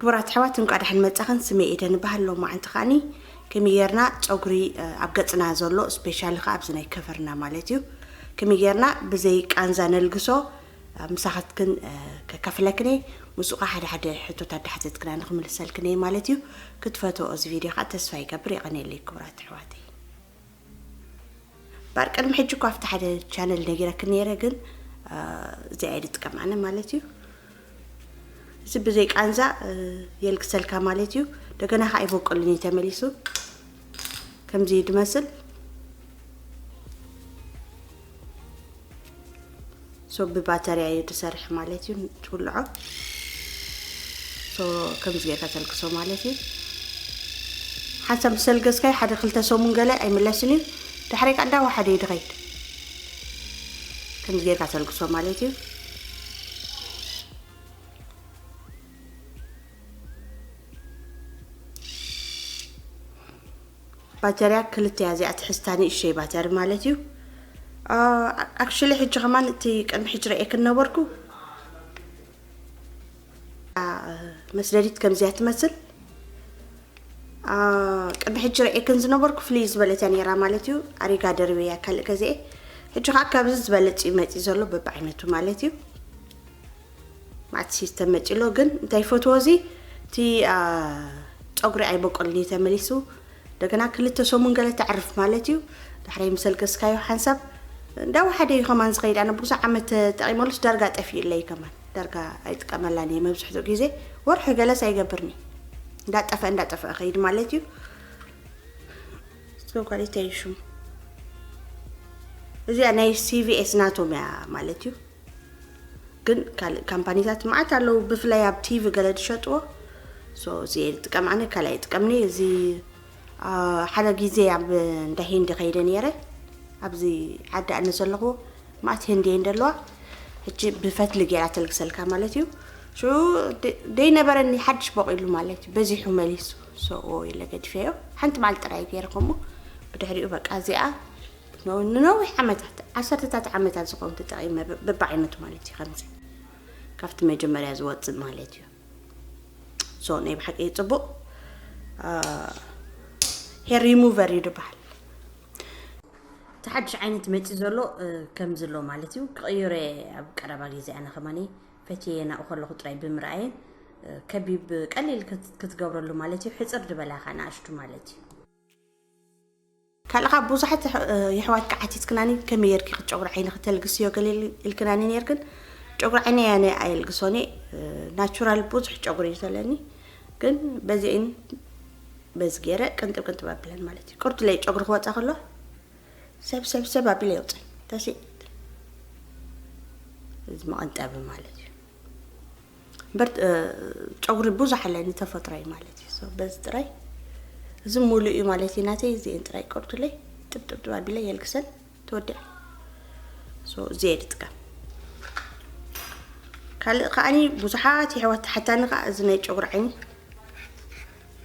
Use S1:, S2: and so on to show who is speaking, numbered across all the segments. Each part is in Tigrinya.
S1: ክቡራት ኣሕዋት እንቋዕ ደሓን መጻኽን ስመይ ኤደን እበሃል ሎማዓንቲ ከዓኒ ከመይ ጌርና ጸጉሪ ኣብ ገጽና ዘሎ ስፔሻሊ ከዓ ኣብዚ ናይ ከቨርና ማለት እዩ ከመይ ጌርና ብዘይ ቃንዛ ነልግሶ ምሳኻትክን ከካፍለክን እየ ምስኡ ከዓ ሓደ ሓደ ሕቶታት ዳሓተትክና ንክምልሰልክን እየ ማለት እዩ ክትፈትኦ እዚ ቪድዮ ከዓ ተስፋ ይገብር የቐንየለይ ክቡራት ኣሕዋተይ ባር ቅድሚ ሕጂ እኳ ኣብቲ ሓደ ቻነል ነጊረክ ነይረ ግን እዚኣ እየ ዝጥቀም ኣነ ማለት እዩ እዚ ብዘይ ቃንዛ የልግሰልካ ማለት እዩ እንደገና ከዓ ይበቀሉን እዩ ተመሊሱ ከምዚ ድመስል ሶ ብባተርያ እዩ ዝሰርሕ ማለት እዩ ትውልዖ ሶ ከምዚ ጌርካ ተልክሶ ማለት እዩ ሓንሳብ ምስ ተልገስካዮ ሓደ ክልተ ሰሙን ገለ ኣይምለስን እዩ ድሕሪ ካ እንዳወሓደ እዩ ድኸይድ ከምዚ ጌርካ ተልግሶ ማለት እዩ ባጀርያ ክልተ እያ እዚኣ ትሕዝታ ንእሸይ ባተሪ ማለት እዩ ኣክሽሊ ሕጂ ከማን እቲ ቅድሚ ሕጂ ረኤክን ነበርኩ መስደዲት ከምዚያ ትመስል ቅድሚ ሕጂ ረኤክን ዝነበርኩ ፍልይ ዝበለት እያ ነራ ማለት እዩ ኣሪጋ ደርበ እያ ካልእ ገዜ ሕጂ ከዓ ካብዚ ዝበለፅ እዩ መፂ ዘሎ በብዓይነቱ ማለት እዩ ማቲ ሲስተም መጺሎ ግን እንታይ ፈትዎ እዚ እቲ ፀጉሪ ኣይበቆልን እዩ ተመሊሱ እንደገና ክልተ ሰሙን ገለ ተዕርፍ ማለት እዩ ዳሕራይ ምሰልገስካዮ ሓንሳብ እንዳወሓደ እዩ ከማን ዝኸይድ ኣነ ብዙሕ ዓመት ተጠቂመሉስ ዳርጋ ጠፊኡለይ ከማን ዳርጋ ኣይጥቀመላን እየ መብዝሕትኡ ግዜ ወርሒ ገለስ ኣይገብርኒ እንዳጠፈአ እንዳጠፈአ ከይድ ማለት እዩ ጓሊተይ ሽሙ እዚኣ ናይ ሲቪኤስ ናቶም እያ ማለት እዩ ግን ካልእ ካምፓኒታት መዓት ኣለዉ ብፍላይ ኣብ ቲቪ ገለ ዝሸጥዎ ሶ እዚ እየ ዝጥቀም ኣነ ካልእ ኣይጥቀምኒ እዚ ሓደ ግዜ ኣብ እንዳ ሂንዲ ከይደ ነይረ ኣብዚ ዓዲ ኣነ ዘለኹዎ መዓት ህንዲ እየን ዘለዋ ሕጂ ብፈትሊ ገይራ ተልግሰልካ ማለት እዩ ሽዑ ደይነበረኒ ሓድሽ በቂሉ ማለት እዩ በዚሑ መሊሱ ሰዎ ኢለ ገዲፈዮ ሓንቲ መዓልቲ ጥራይ ገይረ ከምኡ ብድሕሪኡ በቃ እዚኣ ንነዊሕ ዓመታት፣ ዓሰርተታት ዓመታት ዝኸውን ተጠቒመ፣ በብዓይነቱ ማለት እዩ ከምዚ ካብቲ መጀመርያ ዝወጽእ ማለት እዩ። ሶ ናይ ብሓቂ ጽቡቕ ሄር ሪሙቨር እዩ ድበሃል። እቲ ሓድሽ ዓይነት መጺ ዘሎ ከምዚ ኣሎ ማለት እዩ። ክቕይሮ ኣብ ቀረባ ግዜ ኣነ ከማኒ ፈትየ ናብኡ ከለኹ ጥራይ ብምርኣየ ከቢብ ቀሊል ክትገብረሉ ማለት እዩ። ሕጽር ድበላኻ ንኣሽቱ ማለት እዩ። ካልእ ከኣ ብዙሓት የሕዋትኪ ዓቲትክናኒ ከመይ ጌርኪ ኢኺ ጨጉሪ ዓይንኺ ተልግስዮ ገለ ኢልክናኒ ኔርክን ጨጉሪ ዓይነይ ኣነ ኣየልግሶን እየ ናቹራል ብዙሕ ጨጉሪ እዩ ዘለኒ ግን በዚኤን በዚ ገይረ ቅንጥብ ቅንጥብ ኣብለን ማለት እዩ ቅርቱለይ ጨጉሪ ክወፃ ከሎ ሰብ ሰብ ሰብ ኣቢለ የውፅን ተስእ እዚ መቐንጠቢ ማለት እዩ እምበር ጨጉሪ ብዙሕ ኣለኒ ተፈጥሮይ ማለት እዩ ሰው በዚ ጥራይ እዚ ሙሉእ እዩ ማለት እዩ ናተይ እዚኤን ጥራይ ቀርቱለይ ጥብጥብጥብ ኣቢለ የልግሰን ተወዲዐ ሰው እዚ እየ ዝጥቀም ካልእ ከዓኒ ብዙሓት የሕዋት ሓታኒ ከዓ እዚ ናይ ጨጉሪ ዓይኒ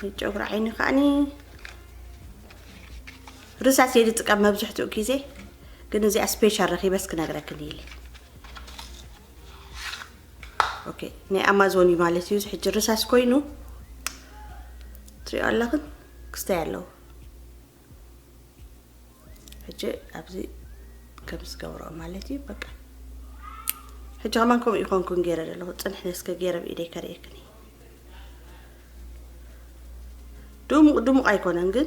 S1: ናይ ጨጉሪ ዓይኒ ከዓኒ ርሳስ እየ ዝጥቀም መብዝሕትኡ ግዜ ግን እዚኣ ስፔሻል ረኪበስ ክነግረክን ኢለ ኦኬ ናይ ኣማዞን እዩ ማለት እዩ ሕጂ ርሳስ ኮይኑ ትሪኦ ኣለኽን ክስታይ ኣለዎ ሕጂ ኣብዚ ከም ዝገብሮ ማለት እዩ በቃ ሕጂ ከማን ከምኡ ይኮንኩን ገይረ ዘለኹ ፅንሕ ነስከ ገይረ ብኢደይ ከርእየክን ድሙቕ ድሙቕ ኣይኮነን ግን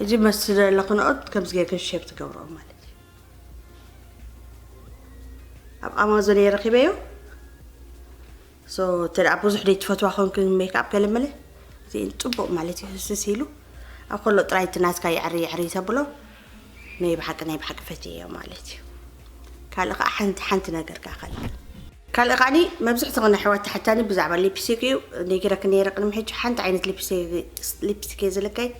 S1: ሕጂ መስቲ ዘለኹ ንኦት ከምዚ ጌርካ ሼር ትገብሮ ማለት እዩ ኣብ ኣማዞን እየ ረኺበዮ ሶ እንተ ብዙሕ ደይ ትፈትዋ ኮንክ ሜክኣፕ ገለመለ እዚ ፅቡቕ ማለት እዩ ህስስ ኢሉ ኣብ ከሎ ጥራይ እቲ ናትካ የዕሪ የዕሪ ተብሎ ናይ ብሓቂ ናይ ብሓቂ ፈትየዮ ማለት እዩ ካልእ ከዓ ሓንቲ ሓንቲ ነገር ካኸል ካልእ ከኣ መብዝሕትኽን ኣሕዋት ትሓታኒ ብዛዕባ ሊፒሲክ እዩ ነጊረክን ነይረ ቅድሚ ሕጂ ሓንቲ ዓይነት ሊፒስቲክ እየ ዝልከይ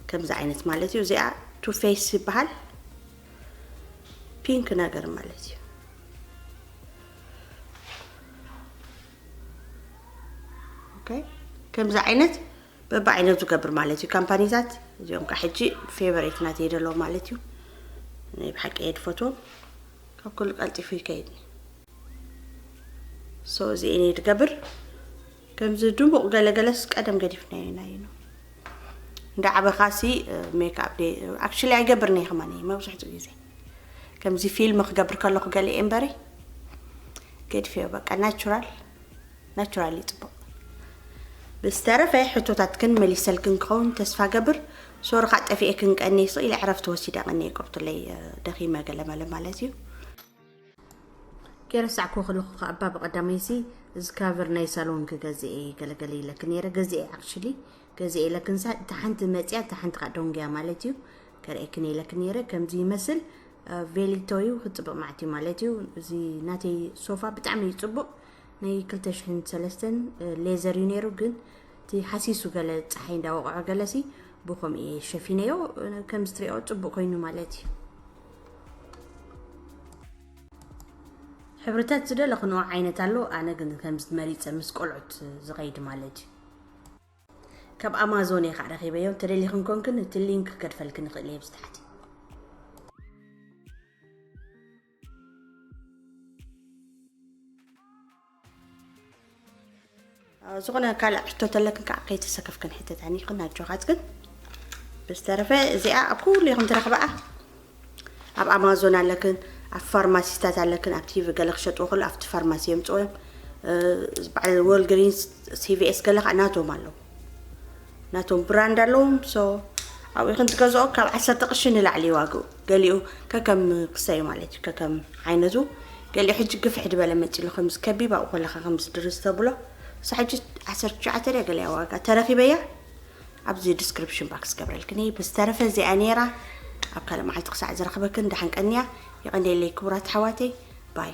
S1: ከምዚ ዓይነት ማለት እዩ እዚኣ ቱ ፌስ ይበሃል ፒንክ ነገር ማለት እዩ ከምዚ ዓይነት በብዓይነት ዝገብር ማለት እዩ ካምፓኒታት እዚኦም ከዓ ሕጂ ፌቨሬት ናተይ ደለዎ ማለት እዩ ናይ ብሓቂ እየ ድፈትዎም ካብ ኩሉ ቀልጢፉ ይከይድ ሶ እዚ እኔ ድገብር ከምዚ ድሙቕ ገለ ገለስ ቀደም ገዲፍናዮ ኢና እዩ እንዳ ዓበኻሲ ሜክኣፕ ደ ኣክቹሊ ኣይገብርኒ ከማን እየ መብዝሕትኡ ግዜ ከምዚ ፊልም ክገብር ከለኹ ገለ እየ እምበሪ ገድፈዮ በቃ ናቹራል ናቹራሊ ጽቡቅ ብዝተረፈ ሕቶታትክን መሊሰልክን ክኸውን ተስፋ ገብር ሶሪ ካእ ጠፊኤክን ቀኒስ ኢለ ዕረፍቲ ወሲደ ቀኒየ ቅርቱለይ ደኺመ ገለመለ ማለት እዩ ከይረሳዕኩ ከለኹ ከኣ እባ ብቐዳመይሲ ዝካቨር ናይ ሳሎን ክገዝእ እየ ገለገለ ኢለክ ነይረ ገዝኤ ኣክሽሊ ገዝኤ ኢለክንሳ እታ ሓንቲ መጽያ እታ ሓንቲ ከኣ ዶንግያ ማለት እዩ ከርእየክን ኢለክ ነይረ ከምዚ ይመስል ቬሊቶ እዩ ክጽብቕ ማዕት እዩ ማለት እዩ እዚ ናተይ ሶፋ ብጣዕሚ እዩ ጽቡቕ ናይ ክልተ ሽሕን ሰለስተን ሌዘር እዩ ነይሩ ግን እቲ ሓሲሱ ገለ ፀሓይ እንዳወቕዖ ገለሲ ብከምኡ እየ ሸፊነዮ ከም ዝትሪኦ ፅቡቅ ኮይኑ ማለት እዩ ሕብርታት ዝደለኽንኦ ዓይነት ኣሎ ኣነ ግን ከምዚ መሪፀ ምስ ቆልዑት ዝኸይድ ማለት እዩ ካብ ኣማዞን እየ ከዓ ረኺበዮ እንተደሊኽን ኮንክን እቲ ሊንክ ከድፈልክን ይኽእል እየ ብዝታሕቲ ዝኾነ ካልእ ሕቶ ተለክን ከዓ ከይተሰከፍ ክንሕተታኒ ይኽን ኣጆኻት ግን ብዝተረፈ እዚኣ ኣብ ኩሉ ኢኹም ትረኽበኣ ኣብ ኣማዞን ኣለክን ኣብ ፋርማሲታት ኣለክን ኣብ ቲቪ ገለ ክሸጥዎ ከሎ ኣብቲ ፋርማሲ የምፅኦ እዮም በዓል ወልግሪንስ ሲቪኤስ ገለ ከዓ ናቶም ኣለዉ ናቶም ብራንድ ኣለዎም ሶ ኣብኡ ክንትገዝኦ ካብ ዓሰርተ ቅርሺ ንላዕሊ ዋግኡ ገሊኡ ከከም ክሰዩ ማለት እዩ ከከም ዓይነቱ ገሊኡ ሕጂ ግፍሕ ድበለ መፂሉ ከምዚ ከቢብ ኣብኡ ከለካ ከምዚ ድርዝ ተብሎ እሳ ሕጂ ዓሰርተ ትሽዓተ ድያ ገሊያ ዋጋ ተረኪበያ ኣብዚ ዲስክሪፕሽን ባክስ ገብረልክን እየ ብዝተረፈ እዚኣ ነይራ ኣብ ካልእ መዓልቲ ክሳዕ ዝረኽበክን ደሓን ቀንያ ይቐንየለይ ክቡራት ኣሕዋተይ ባይ